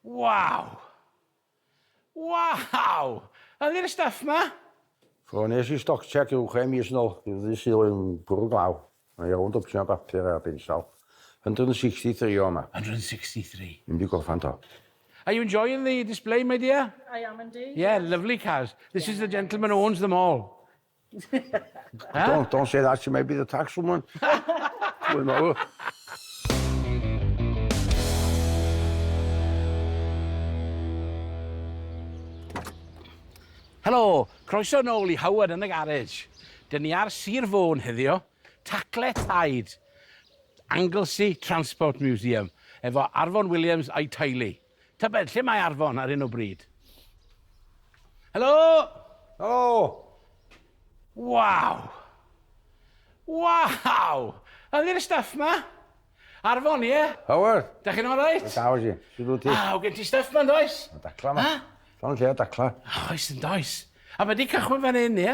Waw! Waw! Yn ni'r stuff ma? So nes i stock check rhyw chwe mis yn ôl, i'r ddu sydd oedd yn bwrw glaw. Mae iawn dwpsyn o bapur a bensal. 163 o yma. 163? Ddim di gorffan to. Are you enjoying the display, my dear? I am indeed. Yeah, lovely cars. This is the gentleman who owns them all. Don't, don't say that to me, bydd y tax woman. Dwi'n meddwl. Helo, croeso yn ôl i Howard yn y garage. Dyn ni ar Sir Fôn heddiw, tacle taid, Anglesey Transport Museum, efo Arfon Williams a'i teulu. Tybed lle mae Arfon ar hyn o bryd? Helo! Helo! Waw! Waw! Yn i'r stuff ma? Arfon, ie? Howard! Da chi'n alright? Da, wyt ti? Sut wyt ti? Aw, gen ti stuff ma, does? Mae dacla ma. Ha? Llon lle o dacla. Oes, yn does. A mae di cychwyn fan hyn, ie?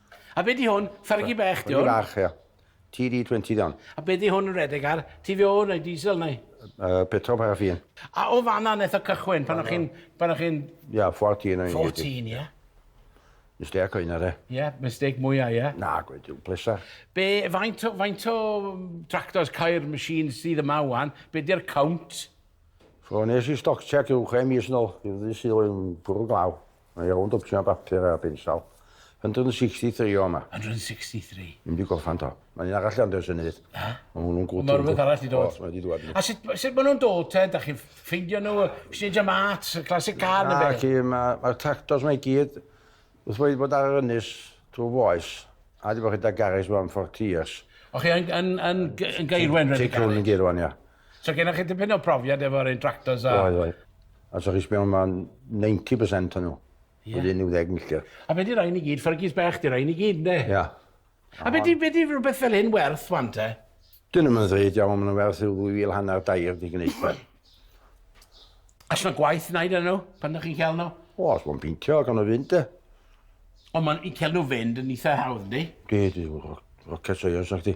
A be di hwn? Fergie bech di hwn? Fergie bach, ia. TD20 di hwn. A be di hwn yn redeg ar? TVO neu diesel neu? Uh, petrol paraffin. A o fanna nes o cychwyn pan o'ch chi'n... Pan o'ch chi'n... Ia, 14 o'n i'n 14, ia. Mistake o un ar e. Ia, mistake mwyaf, ia. Na, gweud yw, plesa. Be, faint o, faint o tractors, cair, machines sydd yma wan? Be di'r count? So, nes i stoc check yw chwe mis nôl, i'r ddi sydd oedd yn bwrw glaw. Mae rownd o ption bapur ar bin sal. 163 o yma. 163? Ddim di gorffan to. Mae un arall ond ers y nydd. Ha? Mae hwnnw'n gwrdd. Mae rhywbeth arall di dod. Os, mae di dwad. A sut, sut maen nhw'n dod te? Da chi'n ffeindio nhw? Exchange am art, classic car neu beth? Mae'r ma, ma tractors mae gyd wrth wedi bod ar yr ynys trwy foes. A di bod chi da garis am 40 years. O chi yn, yn, yn, yn gairwen rhedeg garis? Ti'n yn gairwen, ia. So gennych chi dipyn o profiad efo'r un tractors a... Oedd, oedd. A so chi sbio yma, 90% o'n nhw. Ie. Wedi 90 milltir. A be di rhain i gyd? Fergis bech di rhain i gyd, ne? Ia. A be di, be di rhywbeth fel hyn werth, wan te? Dyn nhw'n mynd ddweud, iawn, maen nhw'n werth rhyw ddwy fil hanner dair di gwneud fe. A sy'n gwaith wneud yn nhw, pan ydych chi'n cael nhw? O, os mae'n pintio, gan o fynd, de. Ond mae'n cael nhw fynd yn eitha hawdd, di? Di, di, rocket science, ac di.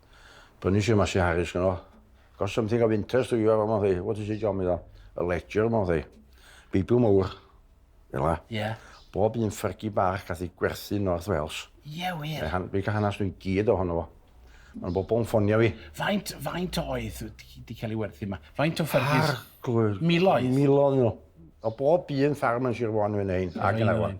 Prynu eisiau mas i Harris gyno. Got something of interest to you, mewn thai. What is it, John, meddwl? A ledger, mewn thai. Beibl mowr. Ela. Ie. Yeah. Bob un ffyrgi bach gath ei gwerthu North Wales. Ie, yeah, wir. Fe han, fe hanas nhw'n gyd ohono fo. Mae'n bobl yn ffonio fi. Faint, faint oedd wedi cael ei werthu yma? Faint o ffyrgis? Ar, glwyr. Miloedd? Miloedd nhw. O bob un ffarm yn Sir Fôn yn hyn, ac yn arwan.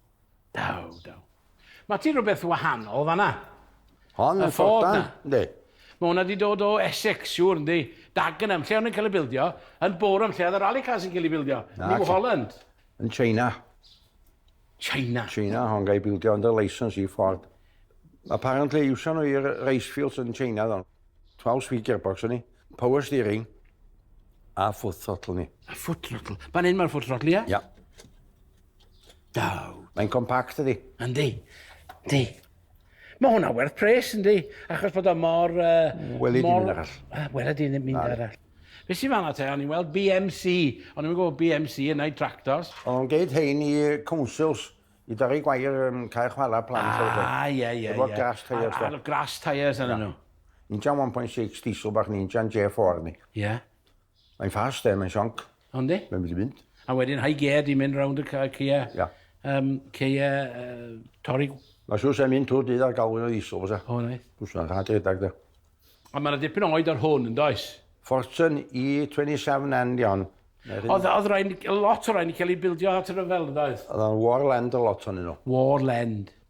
Daw, daw. Mae ti rhywbeth wahanol fanna. Hon yn ffordan, ynddi? Mae hwnna wedi dod o Essex, siŵr, ynddi? Dagenham, lle o'n i'n cael ei bildio, yn Boreham, lle oedd y rally cars yn cael ei bildio, New Holland. Yn China. China? China, hon gael ei bildio under license i Ford. Apparently, iwsio nhw i'r race fields yn China, ddon. 12 speed gearbox o'n i, power steering, a foot throttle ni. A foot throttle? Fan hyn mae'r foot throttle, ia? Ia. Daw. Mae'n compact ydi. Yndi. Yndi. Mae hwnna werth pres yndi, achos bod o mor... Uh, Wel, i mynd arall. Uh, Wel, i mynd arall. Fe sy'n fanna te, o'n i'n weld BMC, o'n i'n gwybod BMC yn ei tractors. O'n geid hein i councils, i dorri gwair um, cael chwarae plant. Ah, ie, ie, ie. Efo grass tyres. Ar grass tyres yn nhw. Ninja 1.6 diesel bach ninja yn J4 ni. Ie. Mae'n fast e, mae'n sionc. Ond di? Mae'n mynd i fynd. A wedyn high gear di mynd rownd y ceia. Ia. Um, ceia uh, torri. Mae siwr sy'n mynd tŵr dydd ar galwyd o ddisol, fysa. O, neu. Bwys yna'n rhaid redag, da. A mae'n dipyn oed ar hwn, yn does? Fortune E27 and Dion. Oedd, oedd rhaid, lot o rhaid i cael ei bildio at yr yfel, yn does? Oedd o'n Warland a lot o'n nhw. Warland.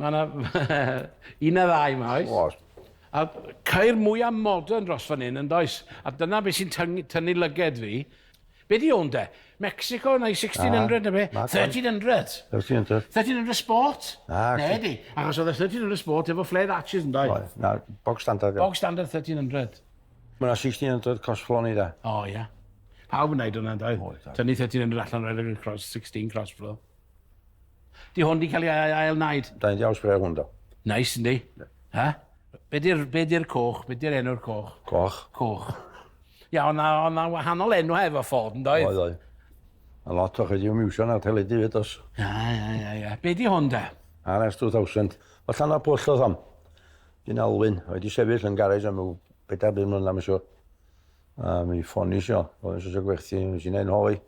Mae yna un neu ddau yma, oes? Oes. A ceir mwyaf modern dros fan hyn, yn does? A dyna beth sy'n tynnu lyged fi. Be di hwn de? Mexico neu 1600 na be? 1300. 1300. 1300 Sport? Na. Ne di. Achos oedd y 1300 Sport efo flared arches yn dweud. Oedd. Na, bog standard. Bog standard 1300. Mae yna 1600 cosflon i da. O, ia. Pawb yn neud hwnna, yn dweud. Tynnu 1300 allan rhaid i'r cross 16 crossflo. Di hwn di cael ei ail wneud? Da ni'n iawn spray hwn do. Nice yndi? Ha? Be di'r be di'r coch? Be di'r enw'r coch? Coch. Coch. Ia, ond ond na wahanol enw hefo ffôn, yn doedd? Oedd, oedd. A lot o chi di miwsio na teledu fyd os. Ia, ia, ia, ia. Be di hwn da? RS 2000. O llan o pwll oedd hon. Dyn Alwyn, oedd di sefyll yn garej am yw bedair byd mlynedd, mae'n siŵr. A mi ffoni isio, oedd eisiau eisiau gwerthu, nes i'n ein holi.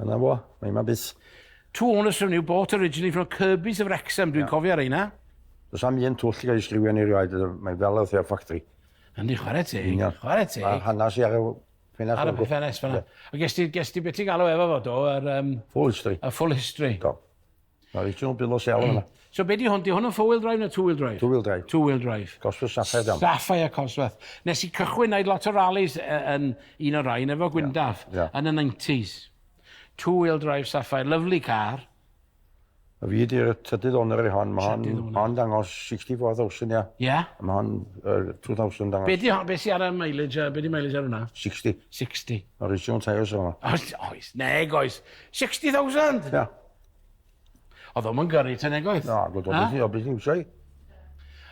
Yna fo, mae yma bus. Two owners from New bought originally from Kirby's of Wrexham, dwi'n yeah. cofio reina. Does am un twll i gael ei sgriwio ni rioed, mae'n fel oedd e'r ffactri. Yndi, chwarae ti, chwarae ti. A'r hanes i ar y ffenest. Ar y ffenest fyna. Yeah. A ges ti, ges ti beth ti'n galw efo fo, do? Yr, um, full history. Y full history. Do. Mae rhaid nhw'n bilo sel yma. So be di hwn? Di hwn yn four-wheel drive neu two-wheel drive? Two-wheel drive. Two-wheel drive. Cosworth Sapphire Dam. Sapphire Cosworth. Nes i cychwyn wneud lot o rallies yn un o'r rhain efo Gwyndaf yeah. Yeah. yn y 90s. Two-wheel drive Sapphire. Lovely car. A fi di'r tydydd o'n yr hon. Mae hon, hon dangos 64,000, ia. Ia? Mae hon uh, 2,000 dangos. Be di hon? Be si ar y mileage? Uh, be di mileage ar hwnna? 60. 60. Original tyres o'n hwnna. Oes, oes. Neg, oes. 60,000? Ia. Oedd o'm yn gyrru te nag oedd? Na, gwyd o beth i o beth i wsio i.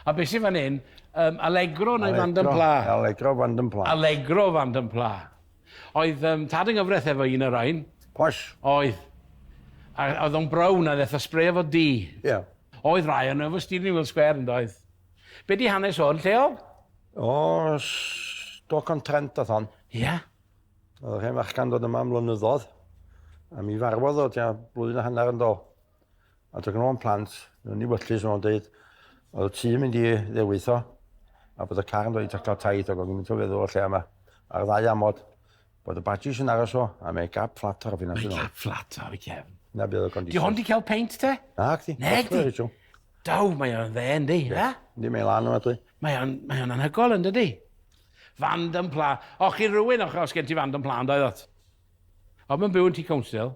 A beth sy'n fan hyn? Um, Allegro neu Fandom Pla? Allegro Fandom Pla. Allegro Fandom Pla. Oedd um, tad yng nghyfraith efo un o'r rhain? Posh. Oedd. A oedd o'n brown a ddeitha spray efo di? Ie. Yeah. Oedd rai o'n efo Stephen Will Square yn doedd. Be di hanes o'n lleol? O, Stoc on Trent oedd hon. Ie. Yeah. Oedd hen fachgan dod yma am flynyddoedd, a mi farwodd o tua blwyddyn a hanner yn do. A dod o'n plant, nhw'n ei wyllus o'n dweud, oedd y tŷ yn mynd i ddewis o, a bod y car yn dweud i'w cael taith, ac o'n i'n mynd o feddwl o lle yma, ar ddau amod, bod y badges yn aros o, a mae gap fflat ar y ffinas yn ôl. Mae gap fflat ar y cefn. Na bydd y conditions. Di hon di cael peint te? Na, gdi. Neg di. Daw, mae o'n dde, yndi, na? Di, mae'n lan o'n adwy. Mae o'n, mae o'n anhygol yn dydy. Fand yn pla. O, chi rhywun, o, os gen ti fand yn pla, ond oedd ot. O, mae'n byw yn ti council.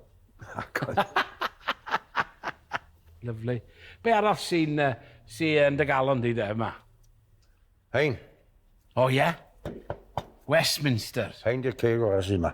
Lyflu. Be arall sy'n uh, sy yn dy galon di de yma? Hein. O, ie? Yeah? Westminster. Hein di'r ceg o'r sy'n yma.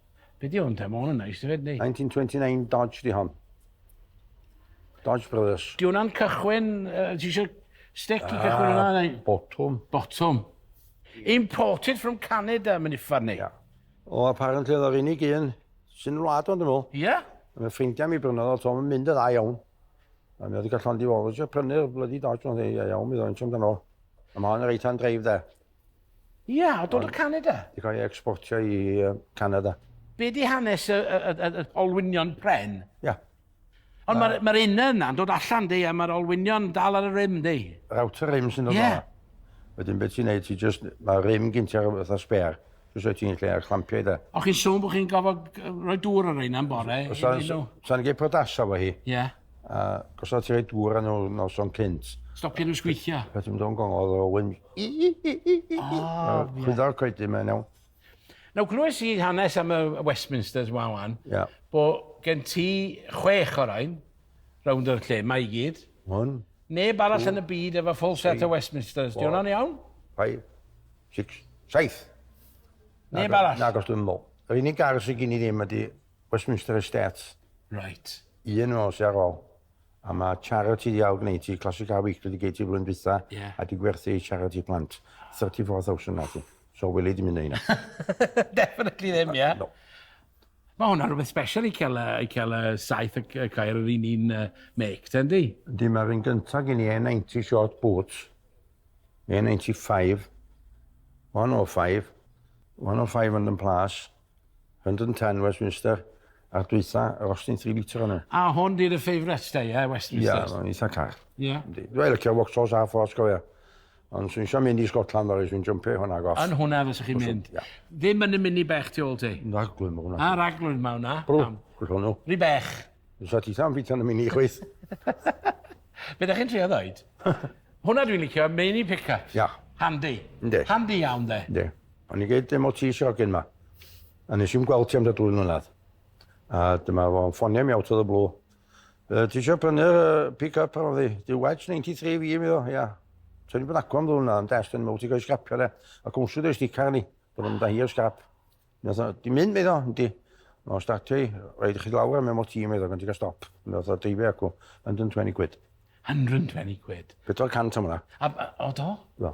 Be di hwn te? Mae hwn yn neis, hefyd, ni? 1929 Dodge di hon. Dodge Brothers. Di hwnna'n cychwyn... Uh, ti eisiau stick i cychwyn hwnna? Neu? Botwm. Botwm. Imported from Canada, mae'n uffar ni. Yeah. O, apparently oedd o'r unig un sy'n wlad o'n dymol. Ie? Yeah? Mae ffrindiau mi brynodd o, to'n mynd y dda iawn. A mi oedd i gael llond i fod, eisiau prynu'r blydi Dodge o'n dda iawn, mi ddod yn siom dan ôl. A mae hon yn reit-hand drive de. Ie, yeah, o dod o Canada. Di cael ei exportio i Canada. Be di hanes y, y, y, y olwynion pren? Ie. Yeah. Ond mae'r ma un yna'n dod allan di a mae'r olwynion dal ar y rym di. Yr outer rym sy'n dod yeah. Wedyn beth ti'n neud, ti just, mae rym gynt ar y fatha sper. Just roi ti'n lle ar chlampio i da. O chi'n sôn bod chi'n gofod rhoi dŵr ar reina yn bore? Sa'n gei prodasa fo hi. Ie. Yeah. A gosod ti rhoi dŵr ar nhw'n noson cynt. Stopio nhw'n sgwithio. Beth yw'n dod yn gongol o wyn Chwyddo'r coedyn mae'n iawn. Nawr, glywes i hanes am y Westminsters wan wan, yeah. bo gen ti chwech o'r ein, rownd o'r lle, mae i gyd. Hwn. Neb arall yn y byd efo full set o Westminsters, di hwnna'n iawn? Five, six, saith. Neb arall? Nag os dwi'n meddwl. Yr unig gar sy'n gen i ddim ydy Westminster Estates. Right. Un o sy'n ar ôl. A mae siarad ti ddiawl gwneud ti, Classic Car Weekly di gei ti flwyddyn dwytha, yeah. a di gwerthu siarad ti plant. 34,000 na ti. So wili di mynd yna. Definitely ddim, ie. Yeah. No. Mae hwnna rhywbeth special i cael, i cael y saith y cair yr un un uh, make, ten di? Di mae'r un gyntaf gen i E90 short boots, E95, 105, 105 yn yn plas, 110 Westminster a'r dwytha yr Austin 3 litre yna. A hwn di dy favourite da, ie, Westminster? Ie, mae'n eitha car. Ie. Dwi'n licio Vauxhalls a Ford, cofio. Ond swn eisiau mynd i Scotland fel swn jympio hwnna goff. Yn hwnna fel sych chi'n mynd. Ia. Ddim yn y mini bech ti ôl ti? Raglwyd mae hwnna. A raglwyd mae hwnna. Brw, gwrs hwnnw. Rhi bech. Dwi'n sa ti tam bit yn y mini chweith. Be da chi'n trio ddweud? hwnna dwi'n licio, mini pick-up. Ia. Handi. Yndi. Handi iawn de. Yndi. O'n i'n gweud MOT sy hogyn ma. A nes i'n gweld ti am da dwy mlynedd. A dyma fo'n ffonio mi out of the blue. Uh, ti eisiau prynu'r uh, pick-up ar ddi? Di wedge 93 fi mi o, ia. So ni'n bod agwam ddwn na, yn dest yn mwg, ti'n cael sgrapio le. A cwnswyd eich dicar ni, bod yn da hi o'r sgrap. Di mynd, mi ddo, di. O, startio i, rhaid i chi lawr am MOT, mi ddo, gan ti'n cael stop. Mi ddo, dreifio acw, 120 quid. 120 quid? 400 am hwnna. A, o do? Do.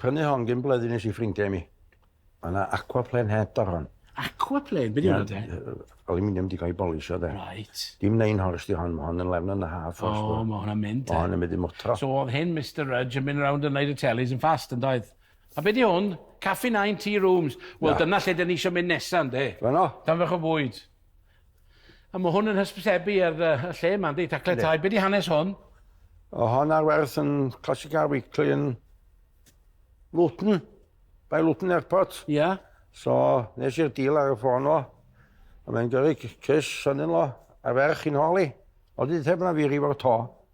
Prynu hon gyn bleddu nes i ffrindiau i mi. Mae yna aquaplane head ar hon. Aquaplane? Be di hwnna de? Aluminium di cael ei bolisio de. Right. Dim nein hors di hon, mae hon yn lefn yn y haf. O, oh, mae hwnna'n mynd de. Mae hwn yn mynd i mwtro. So oedd hyn Mr Rudge yn mynd round yn neud y telis yn fast yn doedd? A be di hwn? Caffi Nine Tea Rooms. Wel, dyna lle dyn ni eisiau mynd nesaf, ynddi? Dyna. Dan fach o fwyd. A mae hwn yn hysbysebu ar y lle yma, ynddi? Taclau Yndi. tai. Be di hanes hwn? O hon ar werth yn Classica Weekly yn Luton, by Luton Airport. Ia. Yeah. So, nes i'r deal ar y ffôn o. A mae'n gyrru cys son-in-law a ferch i'n holi. O, di dweud bod na firi fo'r to.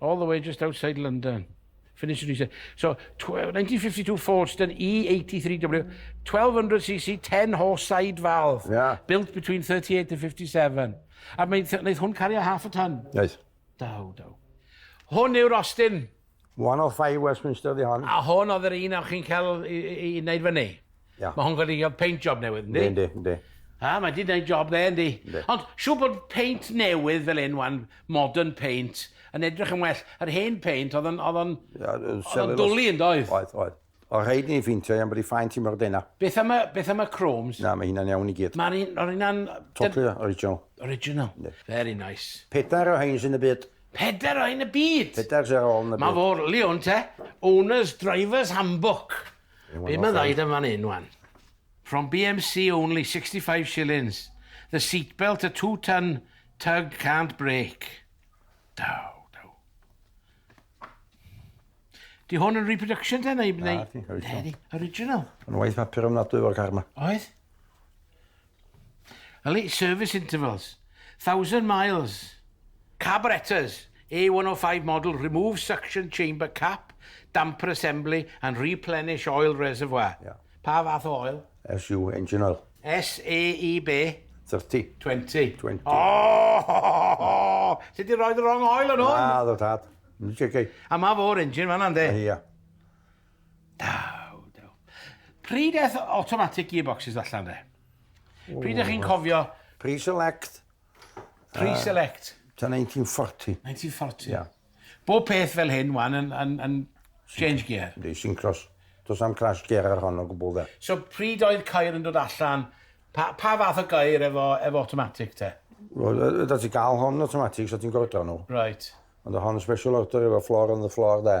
all the way just outside London. Finish and reset. So, 1952 Folkestone E83W, 1200cc, 10 horse side valve, yeah. built between 38 and 57. A wnaeth hwn cario half a ton? Yes. Daw, daw. Hwn yw'r Austin. 105 Westminster di hon. A hwn oedd yr un o'ch chi'n cael i, i, i wneud fyny? Yeah. Mae hwn wedi cael paint job newydd, ynddi? Yndi, yndi. A, mae wedi gwneud job dde, ynddi? Yndi. Ond siw bod paint newydd fel un wan, modern paint, yn edrych yn well. Yr hen paint, oedd o'n, oedd o'n, oedd o'n dwlu yn doedd? Oedd, oedd. O rhaid ni ffeintio iawn bod i ffaint i mor dena. Beth am y, beth am y chromes? Na, mae hynna'n iawn i gyd. Mae'r un, o'r hynna'n... Totally original. Original. Ne. Very nice. Pedair o hyn sy'n y byd. Pedair o hyn y byd? Pedair sy'n ôl yn y byd. Mae fawr liwn te. Owner's Driver's Handbook. Be mae'n ddaid am fan hyn wan? From BMC only 65 shillings. The seatbelt a two ton tug can't break. Daw, daw. Di hwn yn reproduction ten neu... Na, di, original. Original. Yn waith papur ofnadwy fo'r car ma. Oedd? Elite service intervals, thousand miles. Carburetors, A105 model, remove suction chamber cap, damper assembly and replenish oil reservoir. Ia. Pa fath o oil? SU, engine oil. SAE be? 30. 20. 20. Oh! Ti di roed y wrong oil yn hwn? Na, ddo tad. Yn siarad. A ma fo'r engine fanna, ynddi? Ia. Daw, daw. Pryd eth automatic gearboxes allan de? Pryd ych chi'n cofio... Pre-select. Pre-select. Uh, ta 1940. 1940. Yeah. Bob peth fel hyn wan yn, yn, yn change gear. Di, syncros. Does am crash gear ar hon o gwbl dde. So pryd oedd cair yn dod allan? Pa, pa fath o gair efo, efo automatic te? Wel, da ti gael hon automatic, so ti'n gordraw nhw. Right. Ond hon special order efo floor on the floor de.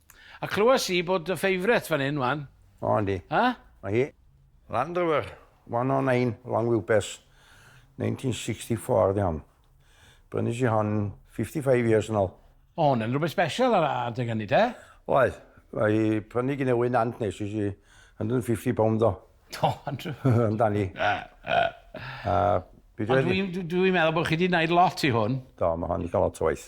A clywes i bod dy favourite fan hyn wan. O yndi. Ha? Ma hi. Land Rover 109 long wheelbase 1964 ydi hon. Brynais i hon 55 years yn ol. O hwn yn rwbeth special ar adeg hynny te? Oedd. Mae i prynu gin Ewi Nant nes i si 150 pound o. O Andrew. Amdani. A Ond dwi'n meddwl bod chi wedi gwneud lot i hwn. Do, mae hon wedi cael lot o waith.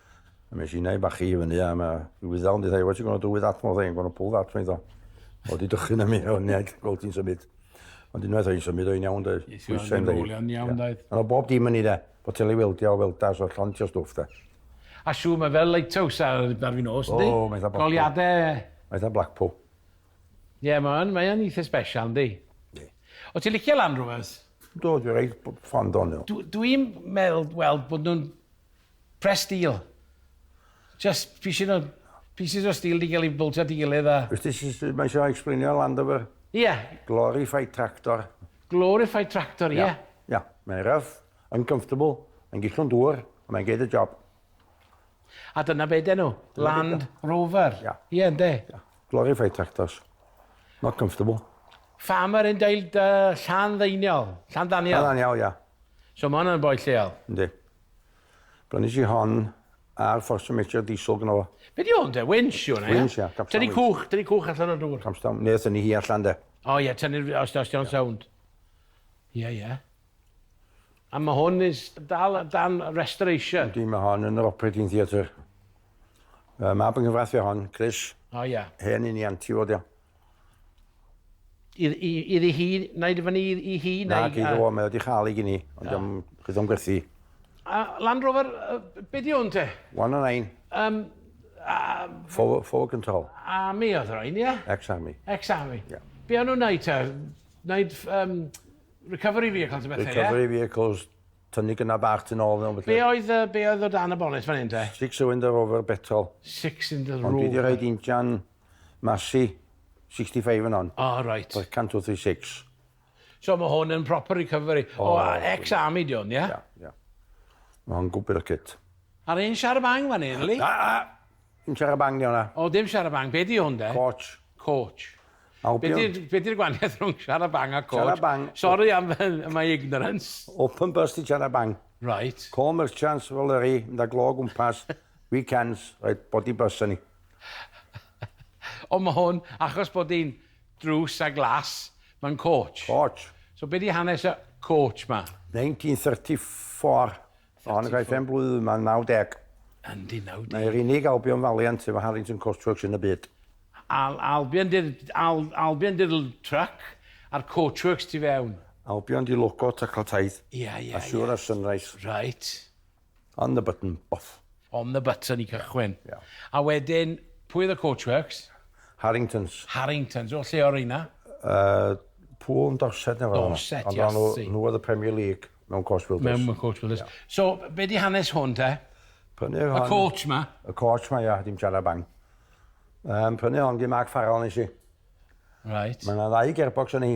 A mes i neu bachu i fyny a mae rhyw ddal yn dweud, what you gonna do with that? Mae'n dweud, I'm gonna pull that, mae'n dweud. O, di dychyn am i, o'n i'n gweld ti'n symud. Ond unwaith o'n i'n symud, o'n i'n iawn, dweud. Nes i o'n i'n iawn, dweud. Ond o bob dim yn ni, dweud. Bo teli weldio, welda, so llond ti o stwff, dweud. A siw, mae fel lighthouse ar ddar fi nos, ynddi? O, mae'n dda Blackpool. Goliadau... Mae'n dda Blackpool. Ie, yeah, mae'n mae eitha special, ynddi? Ie. Yeah. O ti'n licio Land Rovers? Do, dwi'n rhaid ffond o'n nhw. Dwi'n meddwl, wel, bod nhw'n Press steel. Just pieces o pieces o steel 'di gael ei bwltio at ei gilydd a... Wyt ti syth mae eisiau explainio Land Rover? Ie. Glorified tractor. Glorified tractor, ie. Yeah. Ia, mae'n rough, uncomfortable, mae'n gillwng dŵr, ond mae'n geid y job. A dyna be den nhw, Land Rover. Ia. Ie, ynddo. Ia. Glorified tractors. Not comfortable. Farmer yn deud uh, llan ddeiniol, llan ddaniol. Llan ddaniol, ia. So mae hwnna'n boi lleol. Yndi. Brynis i hon a'r fforsiwn metr diesel gyda fo. Be di hwn de? Winch yw hwnna, ia? Winch, ia. Capstan Tynnu cwch, tynnu cwch allan o'r dŵr. Capstan, neu tynnu hi allan de. O ie, tynnu, os, os di o'n sownd. Ie, ie. A mae hwn is dal dan restoration. Yndi, mae hon yn yr operating theatre. Mae mab yn nghyfraith fi hon, Chris. O ia. Hen un i anti fod ia. Iddi hi, naid i fyny i hi? Nag i ddo, mae o wedi chael ei gini, ond diom, chi ddim gwerthu. A Land Rover, be di hwn te? One o nine. Um, a... Four, four control. Army oedd rhain, ie? Ex-army. Ex-army. Yeah. Be o'n nhw'n neud te? Neud um, recovery vehicles y bethau, ie? Recovery vehicles, tynnu gyna bach tyn ôl. Be oedd, uh, be oedd o dan y bonnet fan hyn te? Six cylinder rover petrol. Six cylinder rover. Ond dwi wedi rhaid injan Massey 65 yn on. O reit. Oedd 136. So mae hwn yn proper recovery. O, o ex-army di hwn, ie? Ia, ia. Mae hwn gwbl y cyt. Ar un siar y bang fan hyn, Lee? A, a, dim siar y bang di hwnna. O, dim siar y bang. Be di hwn de? Coach. Coach. Be di'r gwaniaeth rhwng siar y bang a coach? Siar y bang. Sorry am my ignorance. Open bus di siar y bang. Right. Co merchants, fel yr i, mynd a glo gwmpas, weekends, right, body bus yn ni. Ond mae hwn, achos bod hi'n drws a glas, mae'n coach. Coach. So be di hanes y coach ma? 1934. Mae hon yn cael ei phen blwydd yma, 90. Yndi, 90. Mae'r unig Albion Valiant efo Harrington Coach Works yn y byd. Al, Albion di'r, Al, Albion di'r truck a'r Coach Works tu fewn. Albion di logo Taclotaeth. Ia, ia, ia. A siŵr ar Sunrise. Reit. On the button, off. On the button i cychwyn. Yeah. A wedyn, pwy oedd y Coachworks? Harringtons. Harringtons, o lle o'r reina? Uh, pŵl yn Dorset neu fel Dorset, yes. Ond nhw oedd y Premier League mewn Coach Builders. Mewn Coach Builders. Yeah. So, be di hanes hwn te? Prynu hon... Y coach ma? Y coach ma, ia, dim siarad bang. Um, prynu hon di Mark Farrell nes i. Right. Mae yna ddau gearbox yn ei.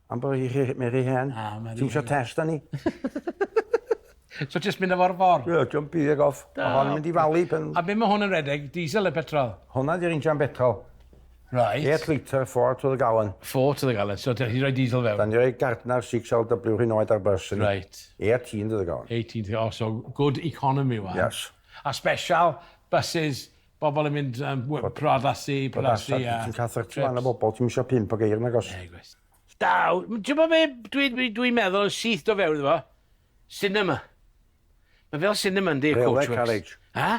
Am bo' hi rhy mae rhy hen. A ma' rhy hen. Ti'm isio test arni? So jyst mynd â fo ar y ffor? Ie jyst pigio fe off. Da iawn. Ma' hon yn mynd i falu pan... A be' ma' hwn yn redeg, diesel ne' petrol? Honna 'di'r injan betrol. Reit. Eight litre four to the gallon. Four to the gallon so 'dych chi 'di roi diesel fewn? 'Dan ni roi Gardner six L double-you rhyn oed ar bys yni. Reit. Eighteen to the gallon. Eighteen to the gallon so good economy one. Yes. A special buses Bobl yn mynd am priodasu, priodasu a... Ti'n cael 30 man o bobl, ti'm isio pump o geir nagos? Na, gwes. Da, ti'n gwybod be dwi'n dwi, dwi meddwl yn syth do fewn iddo fo? Cinema. Mae fel cinema yndi, Railway Coachworks. carriage. Ha?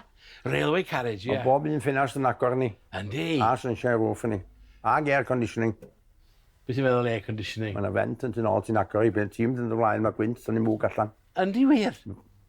Railway carriage, ie. Yeah. Bob un ffinast yn agor ni. Yndi. A sunshine roof ni. Ag air conditioning. Beth ti'n meddwl air conditioning? Mae yna fent yn tyn ôl ti'n agor i beth ti'n mynd yn dy flaen, mae gwynt, sy'n ni mwg allan. Yndi wir?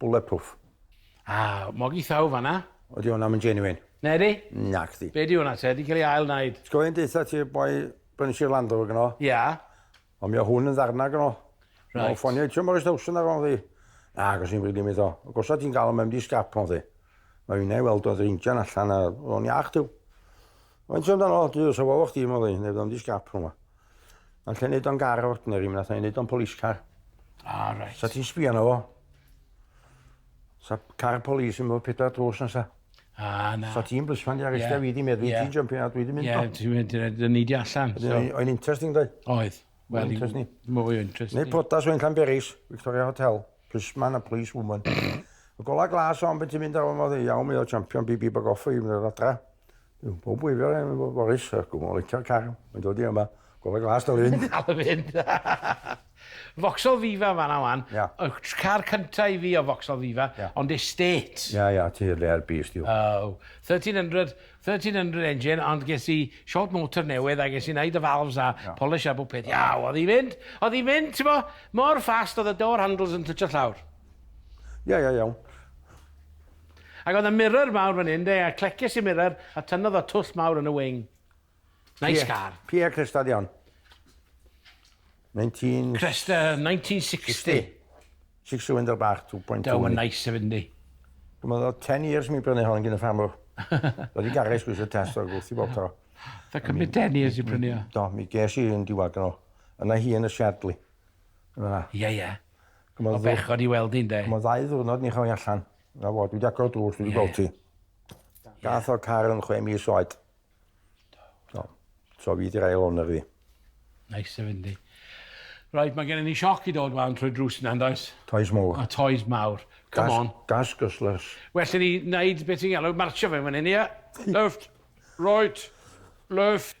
Bulletproof. Ah, mogi thaw fanna. Ydy hwnna yn genuine? Na di? Na chdi. Be di hwnna te? Di cael ei ail wneud? Sgoi yn deitha ti boi bryn Sir Landro gyno? Ia. Ond mi o hwn yn ddarna gyno. Right. Mae'n ffonio eto mor ystawsyn ar o'n ddi. Na, gos ni'n bryd i mi ddo. Gosa ti'n gael o mewn di sgap o'n ddi. Mae fi'n ei weld oedd reinjan allan a o'n iach diw. Mae'n ti'n dan o, diw, sa fawr chdi mo ddi, neu fyddo'n di sgap o'n ddi. Alla i neud o'n gar ordinary, mi nath i neud o'n police car. Ah, right. Sa ti'n sbio na fo? Sa car polis yn bod pedair drws na sa. Ah, na. Sa ti'n blisman di arrestio yeah. fi di meddwl, yeah. ti'n jumpio na, dwi di mynd. Ie, ti'n mynd, dyn ni di allan. So. O'n interesting, dwi? Oedd. Well, interesting. Mwy interesting. Neu protas o'n Llanberis, Victoria Hotel, plisman a police woman. Y gola glas o'n beth ti'n mynd ar o'n modd, iawn, mi o champion BB Bagoffa i fynd adra. Bob gwylio yn efo Boris, gwm o leitio'r car, mae'n dod i yma, gofod glas dal i fynd. Dal i fynd. Foxol Viva fanna wan. Ia. Y car cynta i fi o Foxol Viva, Ia. ond estate. Ia, ia, ti rare beast yw. Oh, 1300, 1300 engine, ond ges i short motor newydd a ges i wneud y valves a Ia. polish a bob peth. Ia, oedd i fynd, oedd i fynd, ti'n bo, mor fast oedd y door handles yn twtio llawr. Ia, ia, iawn. Ac oedd 'na mirror mawr fan 'yn 'de a clecies i'r mirror a tynnodd o twll mawr yn y wing. Nice car. Pie Cresta di hon? Nineteen... Cresta nineteen sixty. Six cylinder bach two point two. Duw ma'n nice hefyd yndi? Dwi'n meddwl o'dd ten years mi brynu hon gin y ffarmwr. Roedd i garej sgwrs y test o'r gwrth i bob tro. Tha cymryd ten years i brynu o? Do mi ges i un diwadd gynno. Yna hi yn y shed li. Yn fan 'na. Ie ie. O bechod i weld 'i ynde? Am y ddau ddiwrnod ni chau allan. 'Na fo, dwi 'di agor y drws, dwi 'di gweld ti. Gath o'r car yn chwe mis oed. Do. So fi 'di'r ail owner fi. Neis o fynd i. Reit, mae gennym ni sioc i dod wan trwy'r drws yna, yn does? Toes mawr. A toes mawr. Come on. Gas guzzlers. Well i ni wneud beth ti'n galw marcio fe fan hyn, ie? Left, right, left.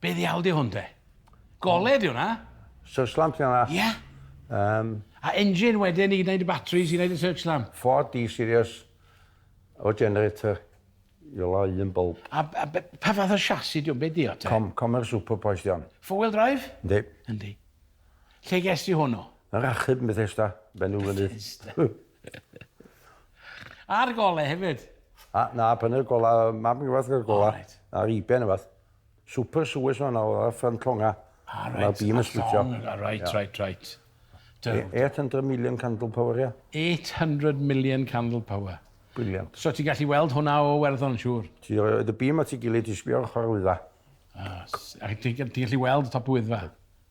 Be ddiawl di hwn te? Goled yw hwnna? Search lamp ti'n dda? Ie. Um, A engine wedyn i wneud y batteries, i wneud y search lamp? Ford D series o generator i ola un bulb. A, a pa fath o chassis diwn, be di o te? Com, comer super poes di on. Four wheel drive? Yndi. Yndi. Lle ges di hwnnw? Yn rachub yn Bethesda, benw fyny. Bethesda. A'r gole hefyd? A, na, prynu'r gola, mab yn gyfath gyda'r gola. Alright. A'r iben yfath. Super sewers yma nawr, ar ffrant llonga. Ah, reit. Mae'r bîm yn splitio. Ah, reit, reit, reit. 800 million candle power, ia. 800 million candle power. Brilliant. So ti'n gallu weld hwnna o werddon, siŵr? Ti roed y bîm at ei gilydd, ti sbio ar ochr Wyddfa. Ah, a ti'n gallu weld y top Wyddfa?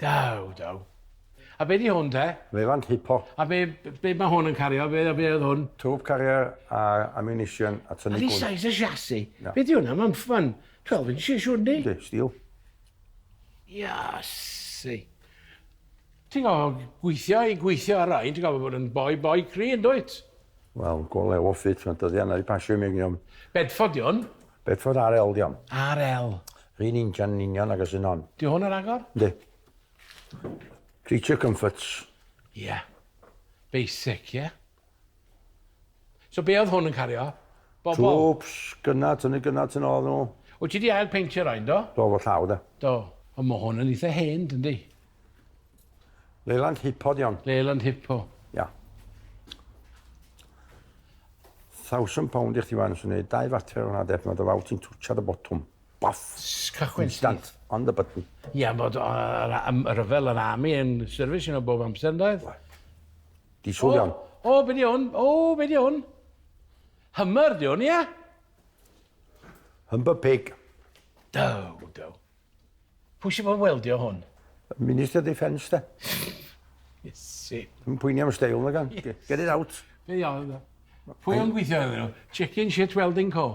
Daw, daw. A be di hwn te? Mefan hipo. A be, be mae hwn yn cario? Be, be oedd hwn? Tŵp carrier a ammunition a tynnu gwn. A size y siasi? Yeah. Be di hwnna? Mae'n ffan 12 inches siwr ni? Di, steel. Iasi. Ti'n gofod gweithio i gweithio ar rai, ti'n gofod bod yn boi, boi cri yn dwyt? Wel, gole o ffit, mae'n dyddiau na i pasio i mi gniom. Bedford di hwn? Bedford RL di hon. RL. R'un injan yn union agos un hon. Di hwn yr agor? Yndi. Creature comforts. Ie. Yeah. Basic, ie? Yeah? So be oedd hwn yn cario? Bobl? Troops, gyna, tynnu gyna, tynnu oedd nhw. O, ti di ail peintio rhaid, do? Do, fo llaw, da. Do. O, mo hwn yn eitha hen, dyndi? Leyland Hippo di hon. Leyland Hippo. Ia. Thousand pound i chdi fan, sy'n gwneud dau fater o'n adeg, mae dy fawr ti'n twtio dy botwm. Boff! Cychwyn Instant, on the button. Ia, bod y rhyfel yn army yn syrfis yn o bob amser, yn dweud? Di sŵl iawn. O, be di hwn? O, be di hwn? Hummer di hwn, ia? Humber pig. Do, do. Pwy sy'n fod yn weldio hwn? Minister Defence, da. Iesu. Yn pwyni am steil na gan. Get it out. Be iawn da. Pwy o'n gweithio iddyn nhw? Chicken Shit Welding Co.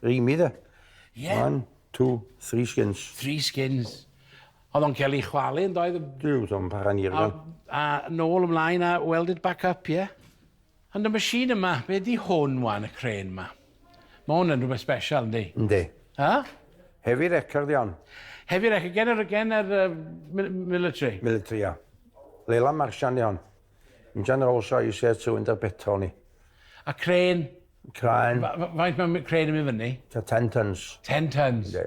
Rhymi da. Ie. One, two, three skins. Three skins. Oedd o'n cael ei chwalu yn doedd? Dwi'n o'n para'n i'r A nôl ymlaen a weld it back up, ie? Yeah? Ond y machine yma, be di hwn wan, y crane ma? Ma hwn yn rhywbeth special, yndi? Yndi. Huh? Heavy wrecker di hon. Heavy wrecker, gen yr, gen yr uh, military? Military, ia. Leila Marsian di hon. Injan Rolls Royce Air 2 yn dy'r petrol ni. A crane? Crane. Faint mae crane yn mynd fyny? Ta 10 tons. 10 tons? Yndi.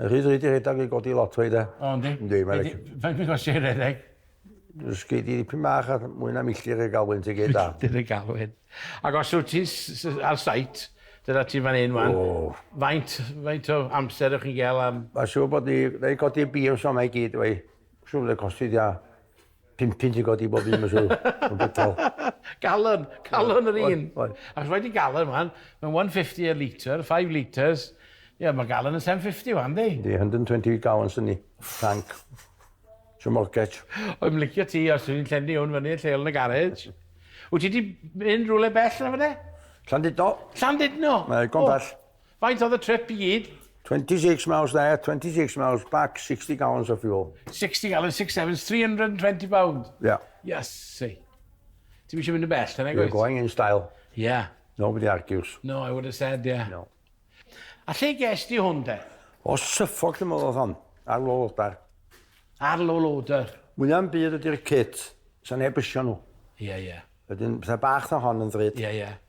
Rhyd rhyd i rhedag i godi lot o'i de. O, yndi? Yndi, mae'n rhaid. Mae'n mynd os i'n rhedeg. Ysgu di dipyn bach a mwy na milltir y galwyn ti gyd da. Milltir y galwyn. Ac os wyt ti ar sait, dyna ti fan hyn wan. Faint, faint o amser ych chi'n gael am... Mae'n siŵr bod ni, na i godi beams o'na i gyd, wei. Siŵr bod e'n costi di a... Pum punt i godi bob un mlwydd. Yn gwbl. Galon, calon yr un. Oedd. Ac rhaid i galon wan, mae'n 150 a litre, 5 litres. Ie, mae galon yn 750 wan, di? Di, 120 gallons yn ni, tank. Sio mortgage. Oedd yn licio ti, os ti'n llenni hwn fyny yn lleol yn y garej. Wyt ti wedi mynd rhywle bell na fydde? Llandudno. Llandudno? Mae gom bell. Faint oedd y trip i gyd? 26 miles there, 26 miles back, 60 gallons of fuel. 60 gallons, 6 sevens, 320 pound. Yeah. Yes, see. Ti'n eisiau mynd yn bell, then I go. You're going in style. Yeah. Nobody argues. No, I would have said, yeah. No. A lle ges di hwn de? O syffog lle modd oedd hon, ar low loader. Ar low loader. Mwynhau'n byd ydy'r cit, sa'n neb ysio nhw. Ie, yeah, ie. Yeah. Wedyn, pethau bach na hon yn ddrud. Ie, yeah, ie. Yeah.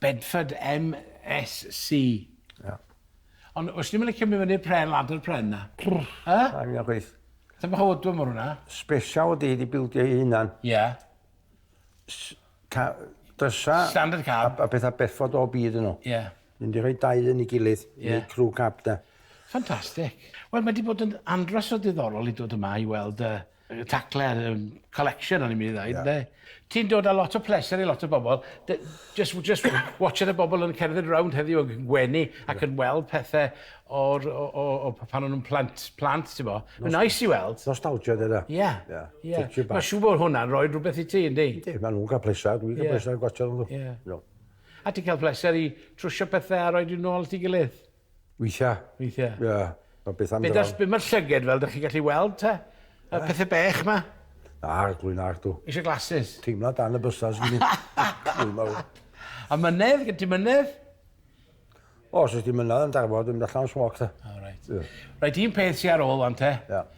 Bedford MSC. Ia. Ond os ti'm yn licio mynd fyny'r pren, ladder pren na. He? Rhaid mi chwaith. Ti'n bach o odwm o'r hwnna. Special ydi i di bildio ei hunan. Ie. Ca- drysa... Standard cab. A pethau Bedford o byd yn nhw. Ie. Mynd di rhoi dau yn ei gilydd. Ie. Neu crew cab de. Ffantastig. Wel mae di bod yn andros o ddiddorol i dod yma i weld y... tacle'r um, collection o'n i'n mynd i ddweud, yeah. ne? Ti'n dod â lot o pleser i lot o bobl. Just, just watching y bobl yn cerdded round heddiw yn gwenu ac yn weld pethau o'r, o, o, o, pan o'n nhw'n plant, plant ti'n bo. Mae'n nice i weld. Nostalgia dyn nhw. Ie. Ie. Mae siw bod hwnna'n rhoi rhywbeth i ti, yndi? Yndi, mae nhw'n cael pleser. Dwi'n cael pleser yn gwachod nhw. Ie. A ti'n cael pleser i trwsio pethau a rhoi nhw'n ôl ti gilydd? Weithiau. Weithiau. Ie, mae beth am dy fam. Be mae'r llyged fel, dych chi'n gallu weld te? Y eh? pethau bech ma? Na, glwy'n ar tu. Eisiau glasses? Teimla dan y bysau sy'n mynd. A mynedd, gen ti mynedd? O, os ydych chi'n mynedd yn darfod, dwi'n mynd allan am smoc te. Oh, right. Yeah. Right, un peth sy'n ar ôl fan te. Yeah.